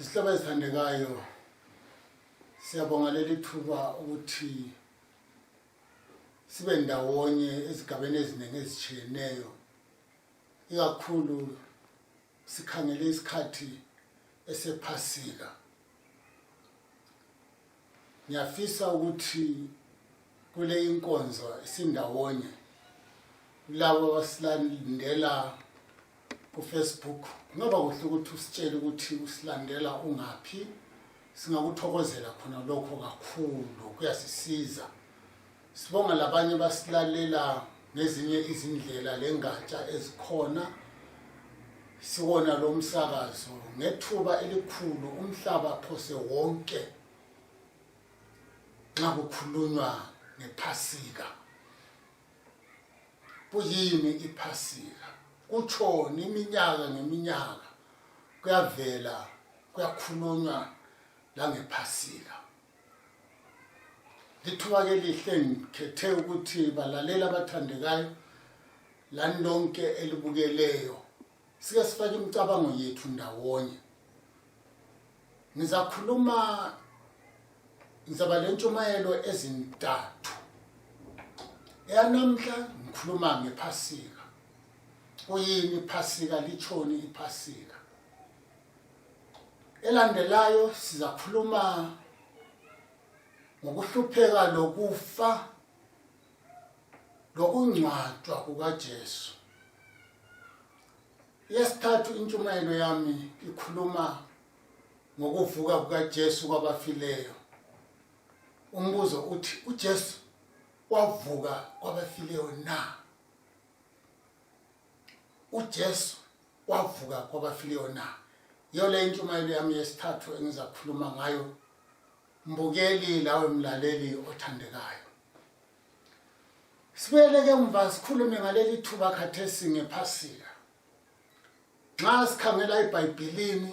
Izihlobo ezithandekayo siyabonga leli thuba ukuthi sibe ndawonye ezigabeni eziningi ezitshiyeneyo ikakhulu sikhangele isikhathi esephasika ngiyafisa ukuthi kule inkonzo isindawonye kulabo abasilandela kufacebook kungaba kuhle ukuthi usitshele ukuthi usilandela ungaphi singakuthokozela khona lokho kakhulu kuyasisiza sibonga labanye basilalela ngezinye izindlela lengatsha ezikhona siwona lo msakazo ngethuba elikhulu umhlaba phose wonke nxa kukhulunywa ngephasika kuyini iphasika kutshoni iminyaka ngeminyaka kuyavela kuyakhulunywa langephasika lithuba ke lihle ngikhethe ukuthi balalela abathandekayo lani lonke elibukeleyo sike sifake imicabango yethu ndawonye ngizakhuluma ngizaba le ntshumayelo ezintathu eyanamhla ngikhuluma ngephasika kuyini iphasika litshoni iphasika Elandelayo sizakhuluma ngokuhlupheka lokufa lokungcwatshwa kukaJesu. Yesithathu intshumayelo yami ikhuluma ngokuvuka kukaJesu kwabafileyo. Umbuzo uthi uJesu wavuka kwabafileyo na? uJesu wavuka kwabafileyo na yiyo le intshumayelo yami yesithathu engizakhuluma ngayo mbukeli lawe mlaleli othandekayo sibuyeleke mva sikhulume ngaleli thuba khathesi ngephasika nxa sikhangela ebhayibhilini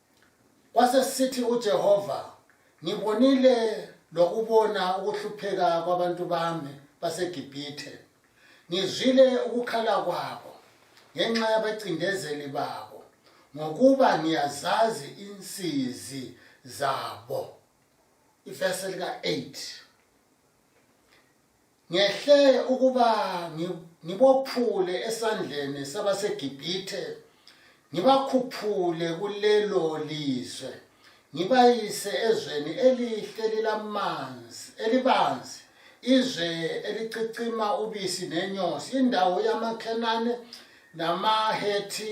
Kwasesithi uJehova, ngibonile lokubona ukuhlupheka kwabantu bami baseGibhithe. Ngizwile ukukhala kwabo ngenxa yabacindezeli babo, ngokuba ngiyazazi insizi zabo. Ivesi lika-8. ngehle ukuba ngibophule esandleni sabaseGibhithe ngibakhuphule kulelo lizwe ngibayise ezweni elihle lilamanzi elibanzi izwe elicicima ubisi nenyosi indawo yamakhenane namahethi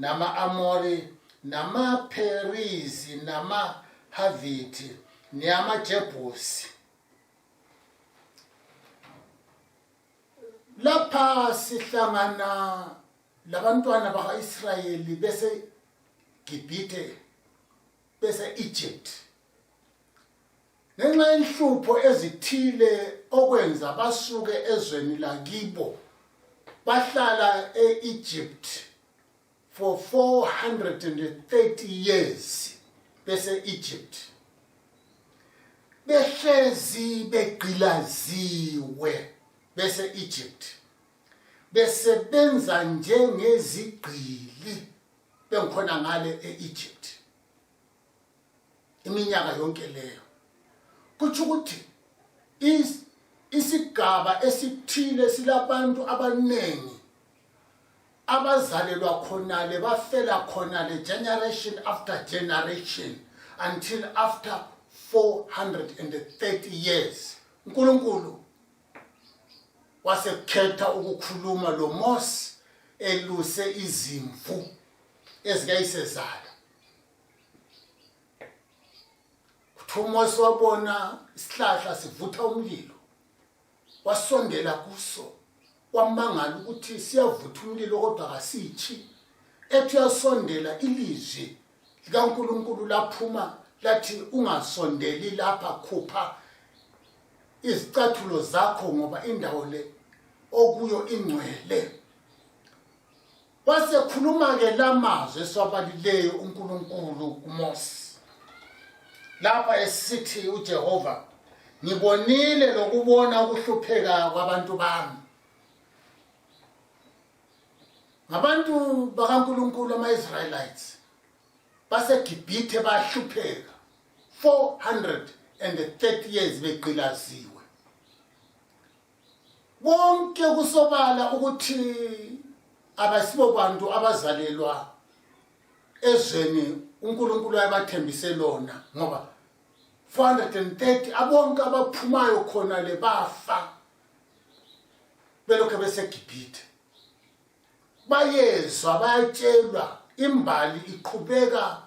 nama-amori namapherizi namahavithi neyamajebusi lapha sihlangana labantwana baka-israyeli besegibhithe bese-egypt ngenxa yenhlupho ezithile okwenza basuke ezweni lakibo bahlala e-egypt for 430 years bese-egypt behlezi begqilaziwe bese-egypt besebenza njengezigqili bengikhona ngale e-egypt iminyaka yonke leyo kutsho ukuthi isigaba esithile silabantu abaningi abazalelwa khonale bafela khonale generation after generation until after 430 years unkulunkulu wasekhetha ukukhuluma lo mose eluse izimvu ezikayisezala kuthiwa umose wabona isihlahla sivutha umlilo wasondela kuso wamangala ukuthi siyavutha umlilo kodwa kasitshi ethi uyasondela ilizwi likankulunkulu laphuma lathi ungasondeli lapha khupha izicathulo zakho ngoba indawo le okuyo ingcwele wasekhuluma-ke la mazwi esiwabalileyo unkulunkulu kumose lapha esithi ujehova ngibonile lokubona ukuhlupheka kwabantu bami ngabantu bakankulunkulu ama-israyelites basegibhithe bahlupheka 430 years begqilaziwe bonke kusobala ukuthi abasibo bantu abazalelwa ezweni uNkulunkulu ayabathembise lona ngoba 430 abonke abaphumayo khona le bafa belokhu beseGibhithe bayezwa bayatshelwa imbali iqhubeka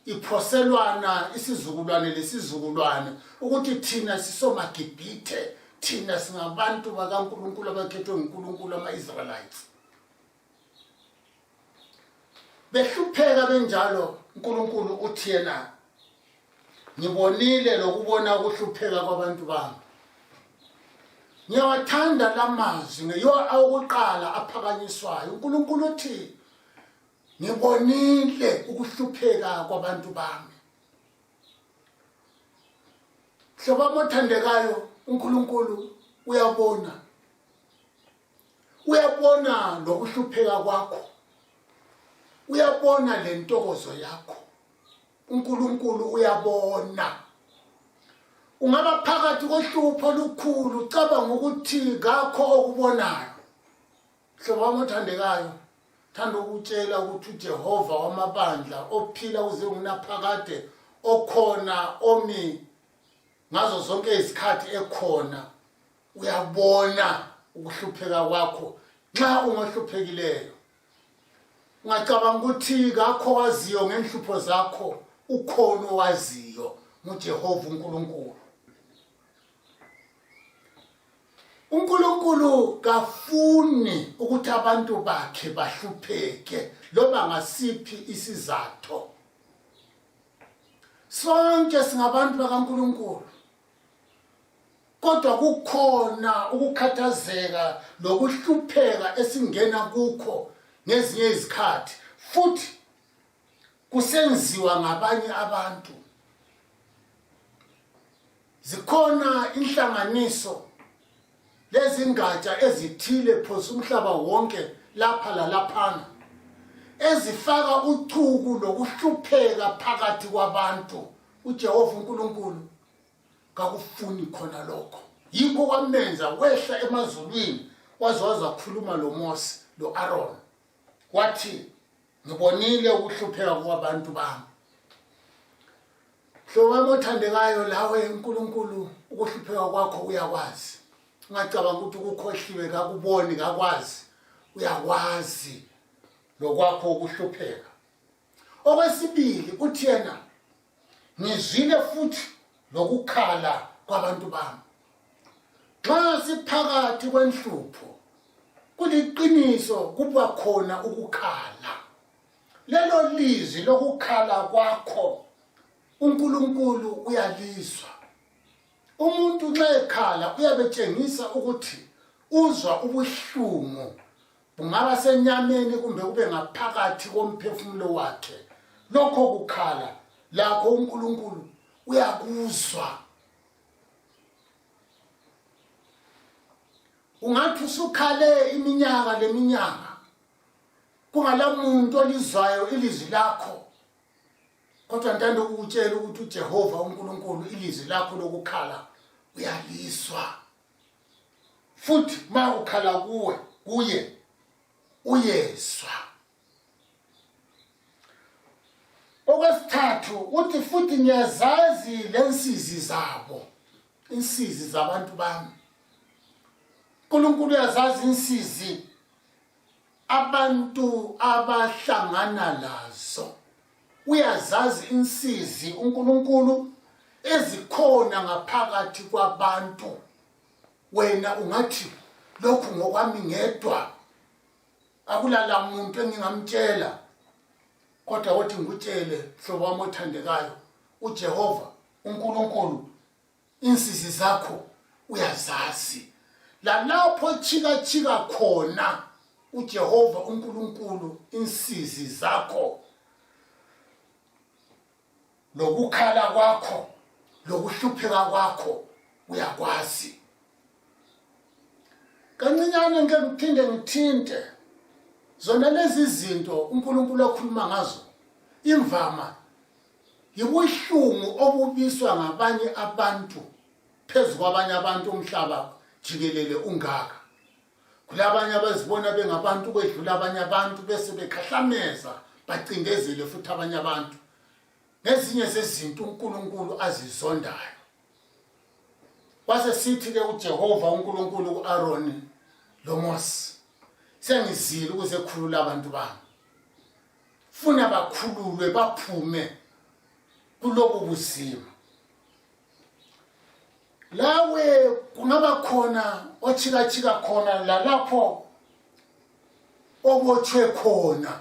iphoselwana isizukulwane lesizukulwane ukuthi thina sisomagibhithe thina singabantu bakankulunkulu abakhethwe ngunkulunkulu ama-israelites behlupheka benjalo unkulunkulu uthi yena ngibonile lokubona ukuhlupheka kwabantu bami ngiyawathanda la mazwi ngeyiwo awokuqala aphakanyiswayo unkulunkulu uthi ngibonile ukuhlupheka kwabantu bami hlobo amothandekayo unkulunkulu uyabona uyabona nokuhlupheka kwakho uyabona le ntokozo yakho uNkulunkulu uyabona ungaba phakathi kohlupho lukhulu cabanga ukuthi kakho okubonayo hlobo wami othandekayo thanda ukutshela ukuthi uJehova wamabandla ophila uze ngunaphakade okhona omi ngazo zonke izikhathi ekhona uyabona ukuhlupheka kwakho nxa ungohluphekileyo ngacabanga ukuthi kakho waziyo ngenhlupho zakho ukhona owaziyo ngujehova unkulunkulu unkulunkulu kafuni ukuthi abantu bakhe bahlupheke loba ngasiphi isizatho sonke singabantu bakankulunkulu kodwa kukhona ukukhathazeka lokuhlupheka esingena kukho ngezinye izikhathi futhi kusenziwa ngabanye abantu zikhona inhlanganiso lezingatsha ezithile phose umhlaba wonke lapha lalaphana ezifaka uchuku lokuhlupheka phakathi kwabantu ujehova unkulunkulu kakufuni khona lokho yikho kwamenza wehla emazulwini waze wazakhuluma lomosi lo-aroni wathi ngibonile ukuhlupheka kwabantu bami hlobami othandekayo lawe unkulunkulu ukuhlupheka kwakho uyakwazi ungacabanga ukuthi ukukhohliwe kakuboni kakwazi uyakwazi lokwakho ukuhlupheka okwesibili uthi yena ngizwile futhi lokukhala kwabantu bami nxa siphakathi kwenhlupho kuliqiniso kuba khona ukukhala lelo lizwi lokukhala kwakho uNkulunkulu uyalizwa umuntu nxa ekhala uyabetshengisa ukuthi uzwa ubuhlungu kungaba senyameni kumbe kube ngaphakathi komphefumulo wakhe lokho kukhala lakho uNkulunkulu uyakuzwa ungathi usukhale iminyaka leminyaka kungalamuntu olizwayo ilizwi lakho kodwa ntando ukutshela ukuthi uJehova uNkulunkulu ilizwi lakho lokukhala uyalizwa futhi ma ukhala kuwe kuye uyezwa okwesithathu uthi futhi ngiyazazi lensizi zabo insizi zabantu bami uNkulunkulu uyazazi insizi abantu abahlangana lazo uyazazi insizi uNkulunkulu ezikhona ngaphakathi kwabantu wena ungathi lokhu ngokwami ngedwa akulala muntu engingamtshela kodwa wothi ngikutshele hlobo wami othandekayo uJehova uNkulunkulu insizi zakho uyazazi lalapho chikachika khona ujehova unkulunkulu insizi zakho lokukhala kwakho lokuhlupheka kwakho uyakwazi kancinyane ngike ngiphinde ngithinte zona lezi zinto unkulunkulu akhuluma ngazo imvama yibuhlungu obubiswa ngabanye abantu phezu kwabanye abantu umhlaba jikelele ungaka kulabanye abazibona bengabantu kwedlula abanye abantu bese bekhahlameza bacindezele futhi abanye abantu ngezinye zezinto uNkulunkulu azizondayo wase sithi ke uJehova uNkulunkulu kuAron loMose sengizile ukuze khulula abantu bami funa bakhululwe baphume kulobu buzima lawe kungaba khona otshikatshika khona lalapho obotshwe khona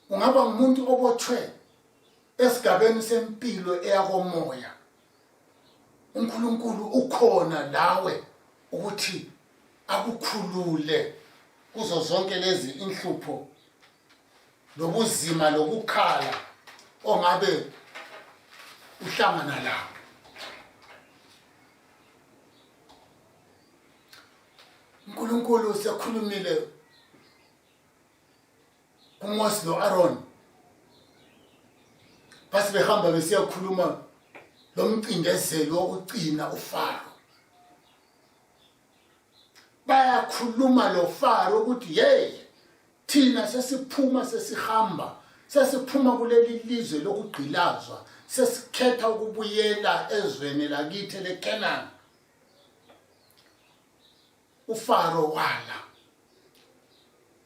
ungaba ngumuntu obotshwe esigabeni sempilo eyakomoya uNkulunkulu ukhona lawe ukuthi akukhulule kuzo zonke lezi inhlupho lobuzima lokukhala ongabe uhlangana lawo uNkulunkulu sekhulumile uMose lo-Aaron basibehamba besiyakhuluma lo mcindezeli wokugcina uFaro bayakhuluma lo Faro ukuthi hey thina sesiphuma sesihamba sesiphuma kuleli lizwe lokugqilazwa sesikhetha ukubuyela ezweni lakithi leKenani uFaro wala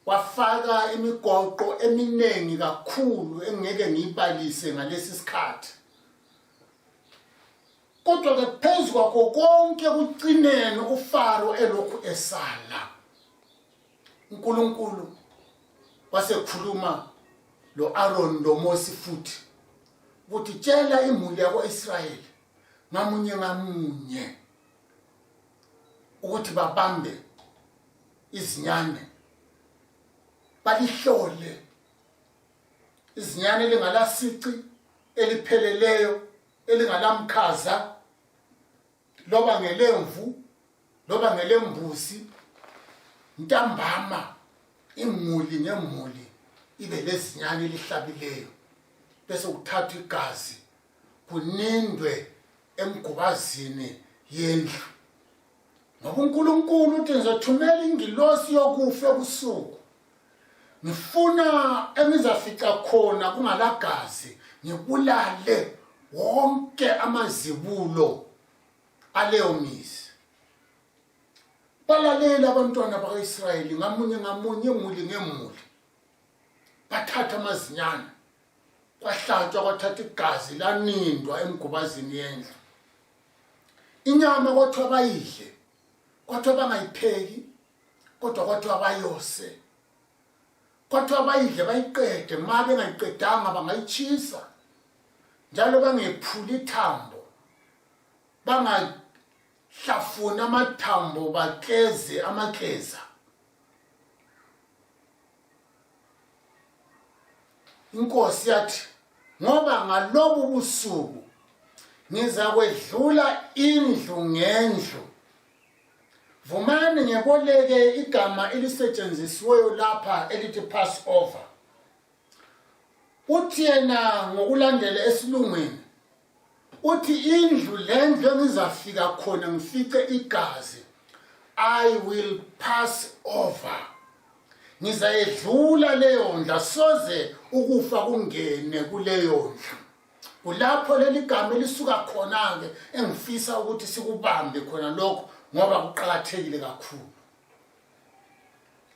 wafaka imigoqo eminingi kakhulu engeke ngiyibalise ngalesi sikhathi kodwa ke phezu kwakho konke kucineni uFaro elokhu esala uNkulunkulu wasekhuluma lo Aaron lo Mose futhi ukuthi tshela imuli yako Israel ngamunye ngamunye ukuthi babambe izinyane balihlole izinyane elingalasici elipheleleyo elingalamkhaza loba ngelemvu loba ngelembuzi ntambama imuli ngemuli ibe lezinyane elihlabileyo bese kuthathwa igazi kunindwe emgubazini yendlu ngoba unkulunkulu uthi ngizothumela ingilosi yokufa ebusuku ngifuna engizafica khona kungalagazi ngibulale wonke amazibulo aleyo mizi balalele abantwana baka-israyeli ngamunye ngamunye muli ngemuli bathatha amazinyana kwahlatshwa kwathatha igazi lanindwa emgubazini yendlu inyama kwathiwa bayidle kwathiwa bangayipheki kodwa kwathiwa bayose kwathiwa bayidle bayiqede ma bengayiqedanga bangayitshisa njalo bangephuli ithambo bangahlafuni amathambo bakleze amakleza inkosi yathi ngoba ngalobu busuku ngizakwedlula indlu ngendlu vumani ngeboleke igama elisetshenzisiweyo lapha elithi pass over uthi yena ngokulandela esilungwini uthi indlu lendlu engizafika khona ngifice igazi i will pass over ngizayedlula leyo ndla soze ukufa kungene kuleyo ndlu kulapho leli gama elisuka khona-ke engifisa ukuthi sikubambe khona lokho ngoba kuqakathekile kakhulu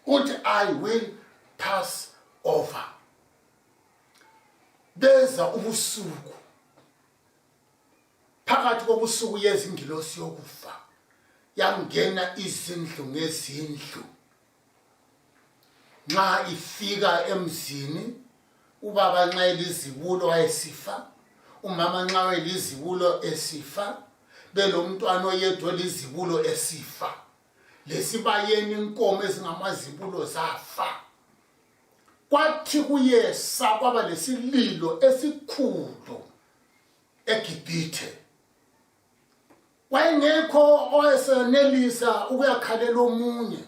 uthi i will pass over beza ubusuku phakathi kobusuku yezingilosi yokufa yangena izindlu ngezindlu nxa ifika emzini ubaba nxa elizibulo wayesifa umama nxa elizibulo esifa belomntwana oyedwa elizibulo esifa lesibayeni inkomo ezingamazibulo zafa kwathi kuyesa kwaba lesililo esikhulu egibhithe wayengekho owayesenelisa ukuyakhalela omunye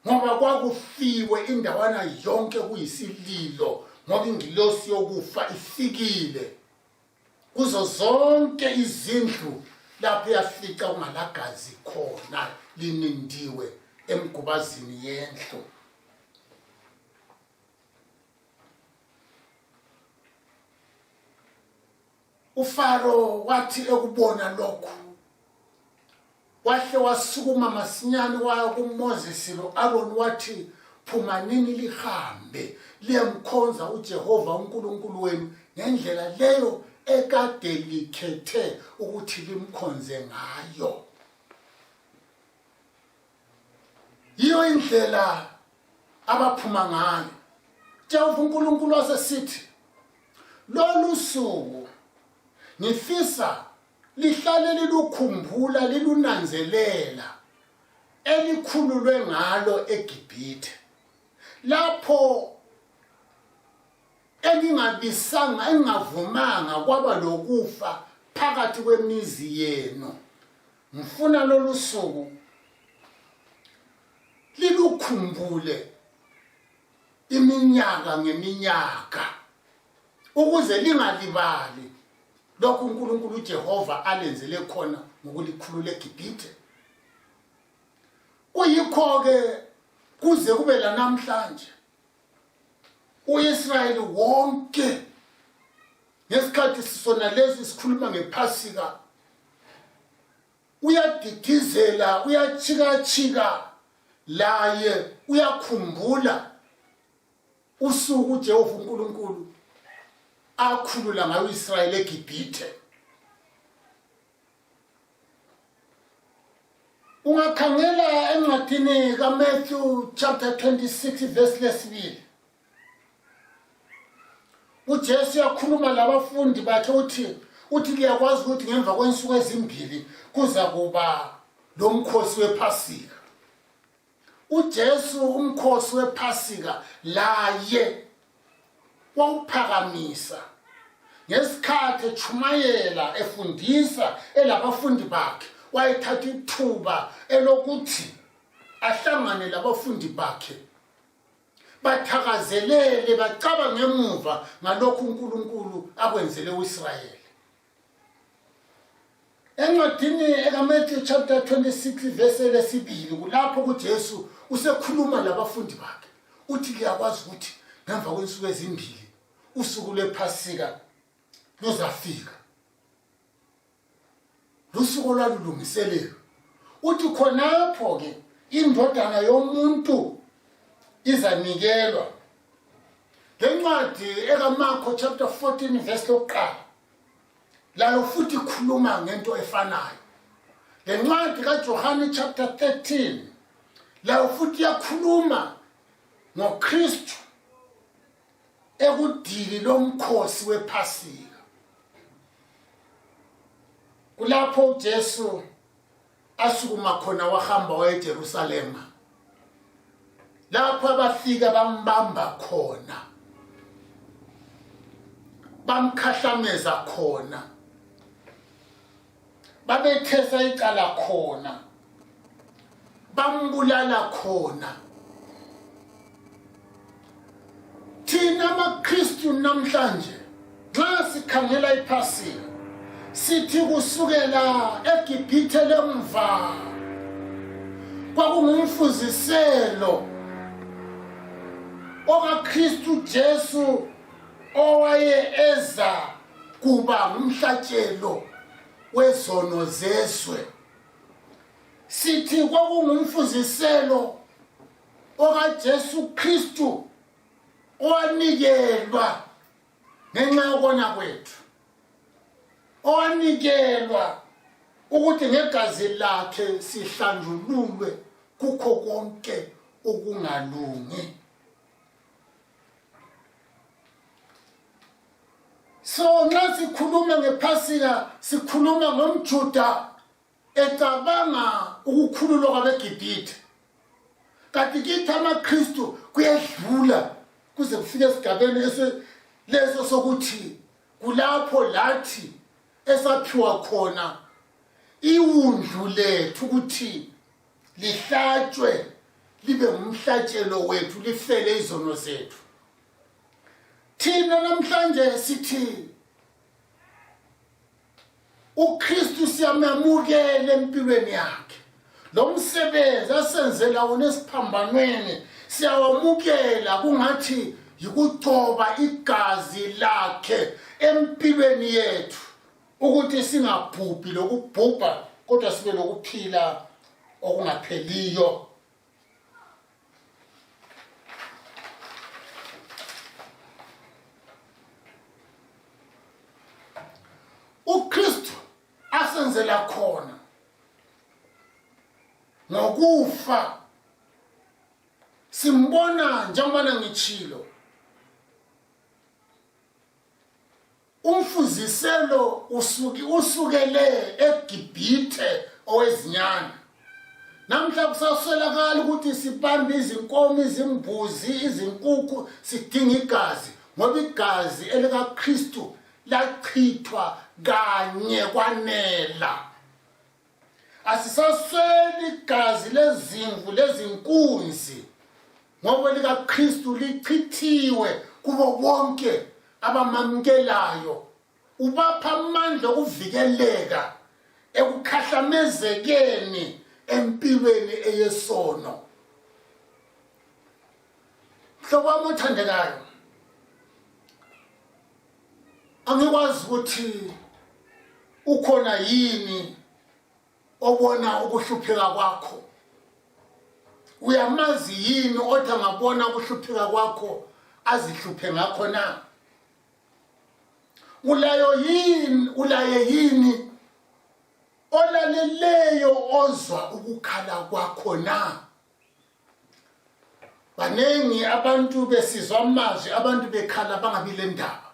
ngoba kwakufiwe indawana yonke kuyisililo ngoba ingilosi yokufa ifikile kuzo zonke izindlu lapho yafica kungalagazi khona linindiwe emgubazini yendlu ufaro wathi ekubona lokhu wahle wasukuma masinyane waya kuMoses lo Aaron wathi phumanini lihambe liyamkhonza uJehova uNkulunkulu wenu ngendlela leyo ekade likhethe ukuthi limkhonze ngayo yiyo indlela abaphuma ngayo Jehova uNkulunkulu wasesithi lolu suku ngifisa lihlale lilukhumbula lilunanzelela elikhululwe ngalo eGibhithe lapho engingabisanga engingavumanga kwaba lokufa phakathi kwemizi yenu ngifuna lolu suku lilukhumbule iminyaka ngeminyaka ukuze lingalibali lokhu uNkulunkulu uJehova alenzele khona ngokulikhulula eGibhithe kuyikho ke kuze kube lanamhlanje uIsrayeli wonke ngesikhathi sisona lezi sikhuluma ngephasika uyadidizela uyachikachika laye uyakhumbula usuku uJehova uNkulunkulu akhulula ngayo uIsrael eGibhithe ungakhangela encwadini kaMatthew chapter 26 verse lesibili uJesu yakhuluma labafundi bakhe uthi uthi liyakwazi ukuthi ngemva kwensuku ezimbili kuza kuba lomkhosi wephasika uJesu umkhosi wePhasika laye wawuphakamisa ngesikhathi etshumayela efundisa elabafundi bakhe wayethatha ithuba elokuthi ahlangane labafundi bakhe bathakazelele bacaba ngemuva ngalokhu uNkulunkulu akwenzele uIsrayeli encwadini ekamatthew chapter 26 vese lesibili kulapho kujesu usekhuluma labafundi bakhe uthi liyakwazi ukuthi ngemva kwensuku ezimbili usuku lwephasika luzafika lusuku olwalulungiselelo uthi khonapho-ke indodana yomuntu izanikelwa le ncwadi ekamarko chapter 14 vesi lokuqala layo futhi ikhuluma ngento efanayo le ncwadi kajohane chapter 13 layo futhi iyakhuluma ngokristu ekudili lomkhosi wephasika kulapho ujesu asukuma khona wahamba waya eJerusalema lapho abafika bambamba khona bamkhahlameza khona babethesa icala khona bambulala khona thina amakristu namhlanje nxa sikhangela iphasika sithi kusukela egibhithe lemva kwakungumfuziselo okakristu jesu owaye eza kuba ngumhlatshelo wezono zezwe sithi kwakungumfuziselo okaJesu Kristu owanikelwa ngenxa yokona kwethu owanikelwa ukuthi ngegazi lakhe sihlanjululwe kukho konke ukungalungi so nxa sikhuluma ngephasika sikhuluma ngomjuda ecabanga ukukhululwa kwabegibhithe kanti kithi amakristu kuyedlula kuze kufike esigabeni leso sokuthi kulapho lathi esaphiwa khona iwundlu lethu ukuthi lihlatshwe libe ngumhlatshelo wethu lifele izono zethu thina namhlanje sithi uKristu siyamamukela empilweni yakhe lo msebenzi asenzela wona esiphambanweni siyawamukela kungathi yikucoba igazi lakhe empilweni yethu ukuthi singabhubhi lokubhubha kodwa sibe lokuphila okungapheliyo uKristu asenzela khona ngokufa simbona njengoba ngitshilo umfuziselo usuki usukele egibhithe owezinyane namhla kusaswelakala ukuthi sibambe izinkomo izimbuzi izinkukhu sidinga igazi ngoba igazi elikakristu lachithwa kanye kwanela asisasweli igazi lezimvu lezinkunzi ngoba likaKristu lichithiwe kubo bonke abamamukelayo ubapha amandla okuvikeleka ekukhahlamezekeni empilweni eyesono mhlobo wami othandekayo angikwazi ukuthi ukhona yini obona ukuhlupheka kwakho uyamazi yini othi angabona ukuhlupheka kwakho azihluphe ngakho na ulayo yini ulaye yini olaleleyo ozwa ukukhala kwakho na baningi abantu besizwa amazwi abantu bekhala bangabi le ndaba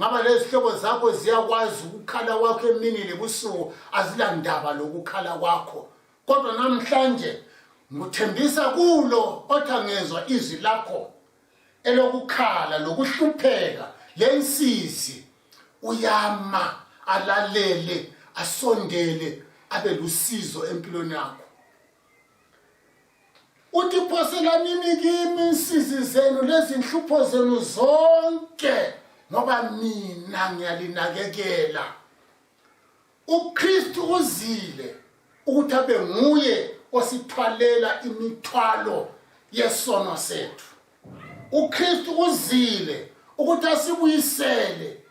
ngaba lezihlobo zakho ziyakwazi ukukhala kwakho emini lebusuku azilandaba lokukhala kwakho kodwa namhlanje ngikuthembisa kulo othi angezwa izwi lakho elokukhala lokuhlupheka lensizi uyama alalele asondele abe lusizo empilweni yakho uthi phoselanini kimi insizi zenu lezinhlupho zenu zonke ngoba mina ngiyalinakekela ukristu uzile ukuthi abe nguye osithwalela imithwalo yesono sethu uKristu uzile ukuthi asibuyisele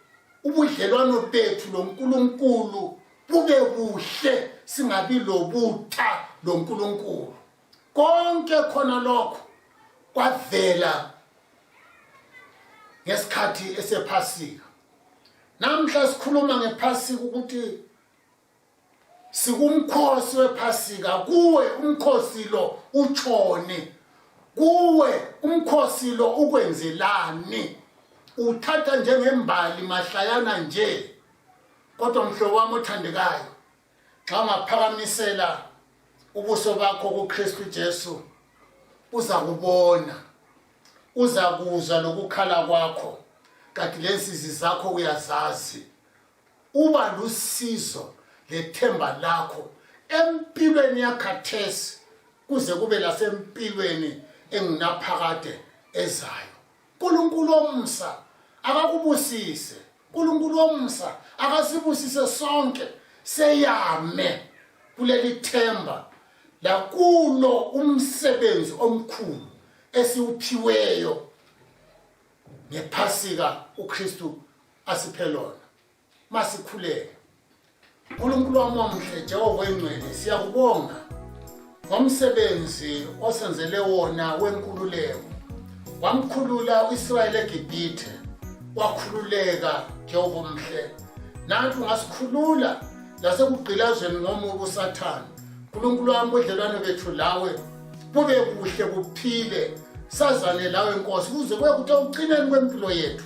ubudlelwano bethu loNkulunkulu bube buhle singabi lobutha loNkulunkulu konke khona lokho kwavela ngesikhathi esephasika namhla sikhuluma ngephasika ukuthi sikumkhosi wephasika kuwe umkhosi lo utshoni kuwe umkhosi lo ukwenzelani uthatha njengembali mahlayana nje kodwa mhlobo wami othandekayo xa ungaphakamisela ubuso bakho kukristu jesu uza kubona uza kuzwa lokukhala kwakho kanti lensizi zakho uyazazi uba lusizo lethemba lakho empilweni yakhathesi kuze kube lasempilweni engunaphakade ezayo nkulunkulu omsa akakubusise nkulunkulu omsa akasibusise sonke seyame kuleli themba lakulo umsebenzi omkhulu esiwuphiweyo ngephasika ukristu asiphelona masikhuleke nkulunkulu wami omhle jehova oyingcwele siyakubonga ngomsebenzi osenzele wona wenkululeko wamkhulula u-israyeli egibhithe wakhululeka jehova omhle nanti ungasikhulula lasekugqilazweni ngomubi usathane nkulunkulu wami budlelwane bethu lawe bube kuhle buphile sazane lawe nkosi kuze kuye kuthi ekucineni kwempilo yethu